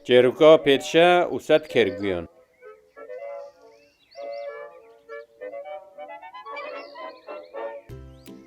Çêrûka pêdşe û sed kêrguyan.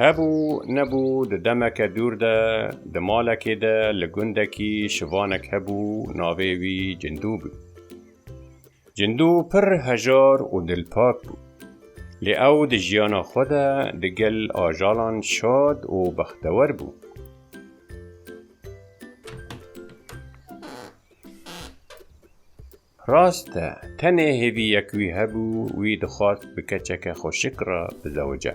Hebû nebû di demeke dûr de di malekê de li gundekî şivanek hebû navê wî Cindû bû. Cindû pir hejar û dilpak bû. Lê ew di jiyana xwe de di gel ajalan şad û bextewer bû. Rast e, tenê hêviyek wî hebû, wî dixwast bi keçeke xweşik re bizewice.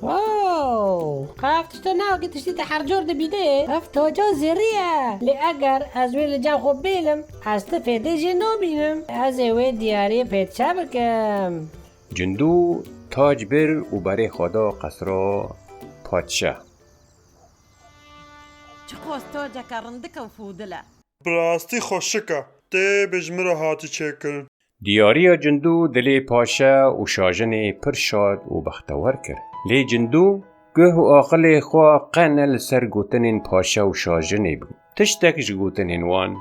Woow! Qe ev tiştê ne wekî tiştî te her cor dibînê. Ev toca zêrî ye. Lê eger ez wê li cem xwe bînim, ez ti fêdê jê nabînim. Ez ê wê diyariyê fêd çe bikim? Cindû tac bir û berê xwe da qesra padşah. Çiqas taceke rindike û fodile. Bi rastî xweşik e. Tê bêj min re hatî çêkirin. Diyariya Cindû dilê paşe û şajinê pir şad û bextewar kir. Lê Cindû guh û aqilê xwe qe ne li ser gotinên paşe û şajinê bû. Tiştek ji gotinên wan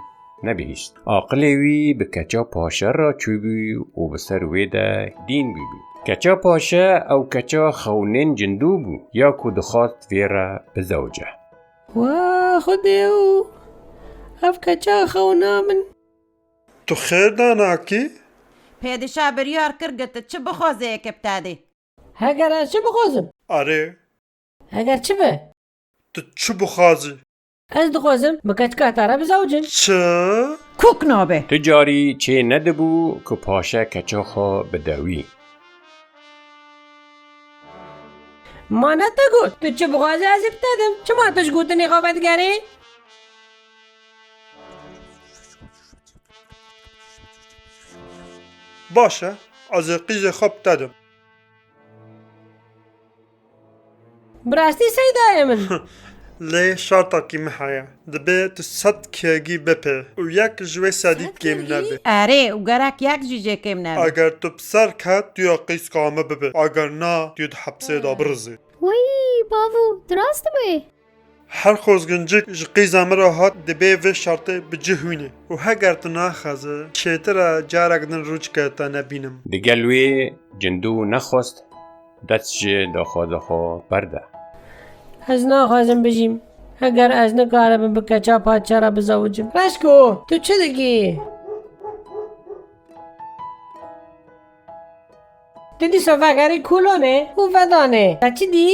nebihîşt. Aqilê wî bi keça paşe re çûbû û bi ser wê de dîn bûbû. Keça paşe ew keça xewnên Cindû bû ya ku dixwast vê re bizewce. Wa xwedê û ev keça xewna min! Tu xêr da nakî? Pêdişah biryar kir gu tu çi bixwazê eke bi te dê. Heger ez çi bixwazim? Erê. Heger çi be. Tu çi bixwazî? Ez dixwazim bi keçikata re bizewicim. Çi? Kûk nabe. Tu carî çê nedibû ku paşe keça xwe bide wî. Ma ne te got tu çi bixwazî ez ê bi te dim. Çima tu ji gotinê xwe vedigerî? Baş e, ez ê qîzê xwe bi te dim. Bi rastî sey dayê min. Lê şertekî min heye. Dibê tu sed kg bipê û yek ji wê sedî kêm nebe. Erê û gerek yek jî jê kêm nebe. Eger tu bi ser ket tu ya qîzka min bibê. Eger na tu yê di hepsê de birizî. Weyî bavû, tu rast dibê. Her xozgincik ji qîza min re hat dibê vê şertê bi cih hwîne û heger tu naxeze çêtir e carek din rûçke te nebînim. Digel wî cindû nexwest dest ji doxoza xwe berde. Ez naxwazim bijîm heger ez nikaribim bi keça padşa re bizewicim. Reşko, tu çi dikî? Tu dîsa vegerî kolonê û vedanê. Te çi dî?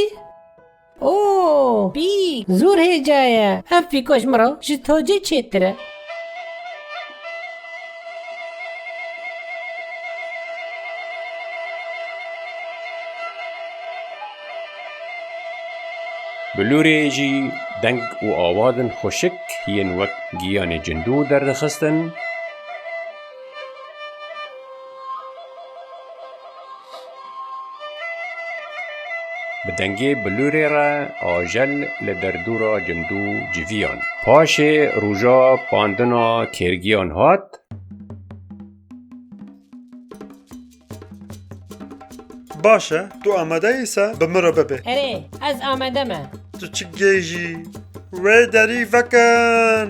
Oo! Pîk! Zor hêja ye. Ev pîka ji min re ji tacê çêtir e. Bi lûrê jî deng û awazên xweşik yên wek giyanê cindû derdixistin. Bi dengê bilûrê re ajel li derdora Cindû civiyan. Paşê roja pandina kêrgiyan hat. Baş e, tu amade yî se bi min re bibe. Erê, ez amade me. Tu çi gêjî? Wê derî vekin!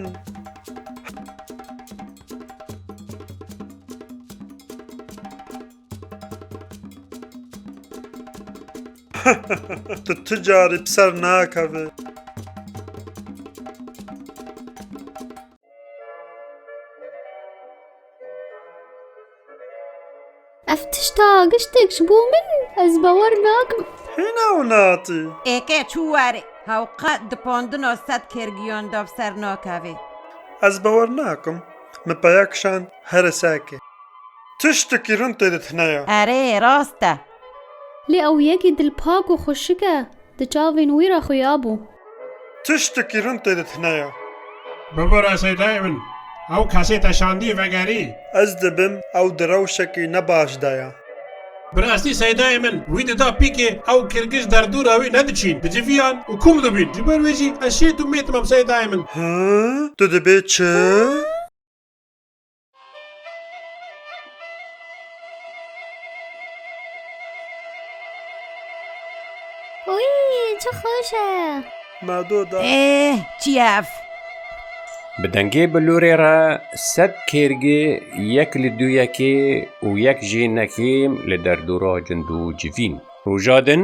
Tu tu carî bi ser nakeve. Ev tişta giştek ji bo min ez bawer nakim. Hîna û natî. Êke çû warê. Hew qet di pondina sed kêrgiyan de bi ser nakeve. Ez bawer nakim. Min peya kişand here seke. Tiştekî rind tê de tine ye. Erê, rast e. Lê ew yekî dilpak û xweşik e. Di çavên wî re xuya bû. Tiştekî rind tê de tine ye. Bibire seydayê min. Ew kesê te şandî vegerî. Ez dibim ew di rewşekî ne baş de ye. Bi rastî seydayê min. Wî dida pîkê ew kirgiş derdora wî ne diçîn. Bi civiyan û kûm dibîn. Ji ber wê jî ez şêt û mêt mam seydayê min. Hî, tu dibê çi? Wî çi xweş e. Me do da. Ê çi ye ev? Bi dengê bilûrê re sed kêrgê yek li dû yekê û yek jî nekêm li derdora cindû civîn. Roja din.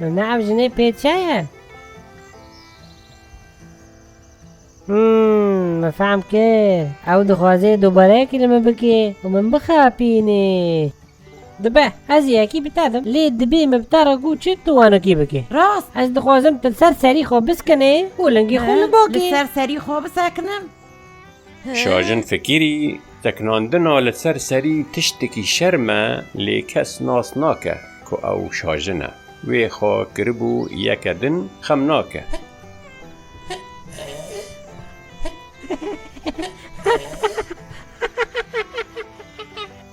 Nana ev jinê pê çi ye? Hmm, me fehm kir. Ew dixwaze dobareyekî li min bike û min bixapînê. Dibe, ez yekî bi te dim. Lê dibê min bi te re got çi tu wano kî bike. Rast, ez dixwazim tu li ser serî xwe biskinê û lingê xwe li bo kî. Li ser serî xwe bisekinim? Şajin Fekîrî, Tekinandina li ser serî tiştekî şerm e lê kes nas nake ku ew şajin e. Wê xwe kiribû yeke din xem nake.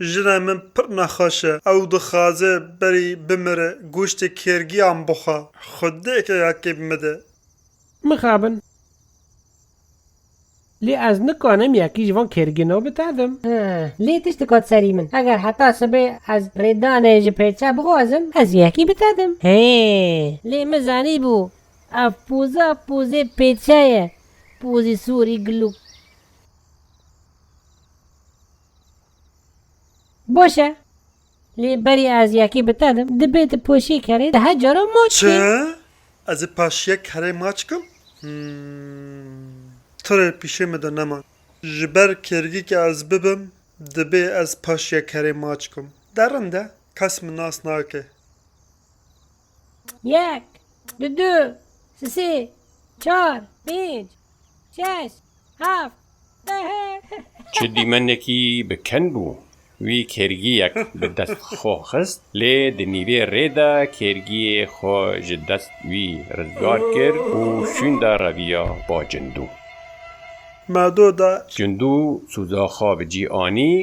Jina min pir nexweş e. Ew dixwaze berî bimire goştê kêrgiyan bixwe. Xwe dê keyakê bimide. Mixabin. Lê ez nikanim yekî ji van kêrgino bitedim. Lê tişt dikat serî min. Eger heta sibê ez rêdanê ji pêça bixwazim, ez yekî bitedim. Hê! Lê min zanîbû ev poza pozê pêça ye. Pozê sorî gilûk. Boş e. Lê berî ez yekî bi te dim, dibê tu poşiyê kerê di her cara maç bî. Çi? Ez ê paşiye kerê maç kim? H'm. Tu rê pîşê min de nema. Ji ber kêrgî ke ez bibim, dibê ez paşiye kerê maç kim. Derin de, kes min nas nake. Yek, du, du, sisê, çar, pênc, şeş, heft, Çi dîmenekî bi ken bû. Wî kêrgiyek bi dest xwe xist lê di nîvê rê de kêrgiyê xwe ji dest wî rizgar kir û şûnde reviya ba Cindû. Ma do da. Cindû sûza xwe bi cî anî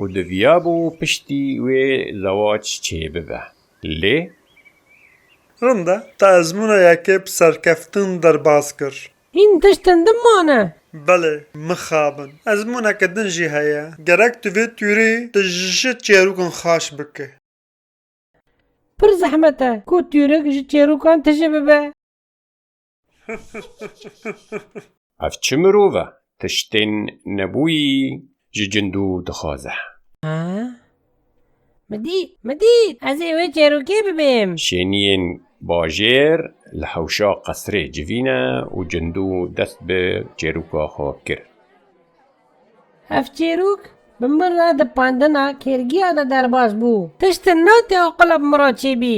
û diviyabû piştî wê zewac çêbibe. Lê. Rind e, te ezmûna yekê bi serkeftin derbas kir. Hîn tiştên din mane. Belê, mixabin. Ezmûneke din jî heye. Gerek tu vê tûrê di ji çêrûkan xaş bike. Pir zehmet e ku tûrek ji çêrûkan tije bibe. Ev çi mirov e tiştên nebûyî ji cindû dixwaze. Ha? Min dît, min dît! Ez ê wê çêrokê bibêm. Şêniyên bajêr li hewşa qesrê civî ne û cindû dest bi çêroka xwe kir. Ev çêrok bi min re di pandina kêrgiya de derbas bû. Tiştin nate oqila bi min re çêbî.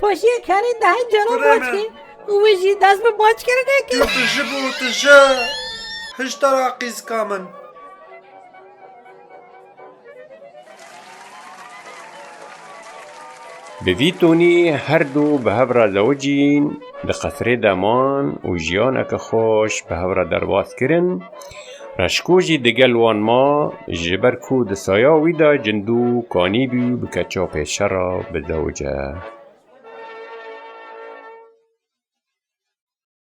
Poşiyê kerê de hin caran bac kir û wê jî dest bi backirinê kir. Tu ji bo tu ji hişta ra qîzika min. Bi vî tonî her du bi hev re zewicîn, di qesrê de man û jiyaneke xweş bi hev re derbas kirin. Reşko jî digel wan ma, ji ber ku di saya wî de Cindû kanîbû bike çapê şera bi zewce.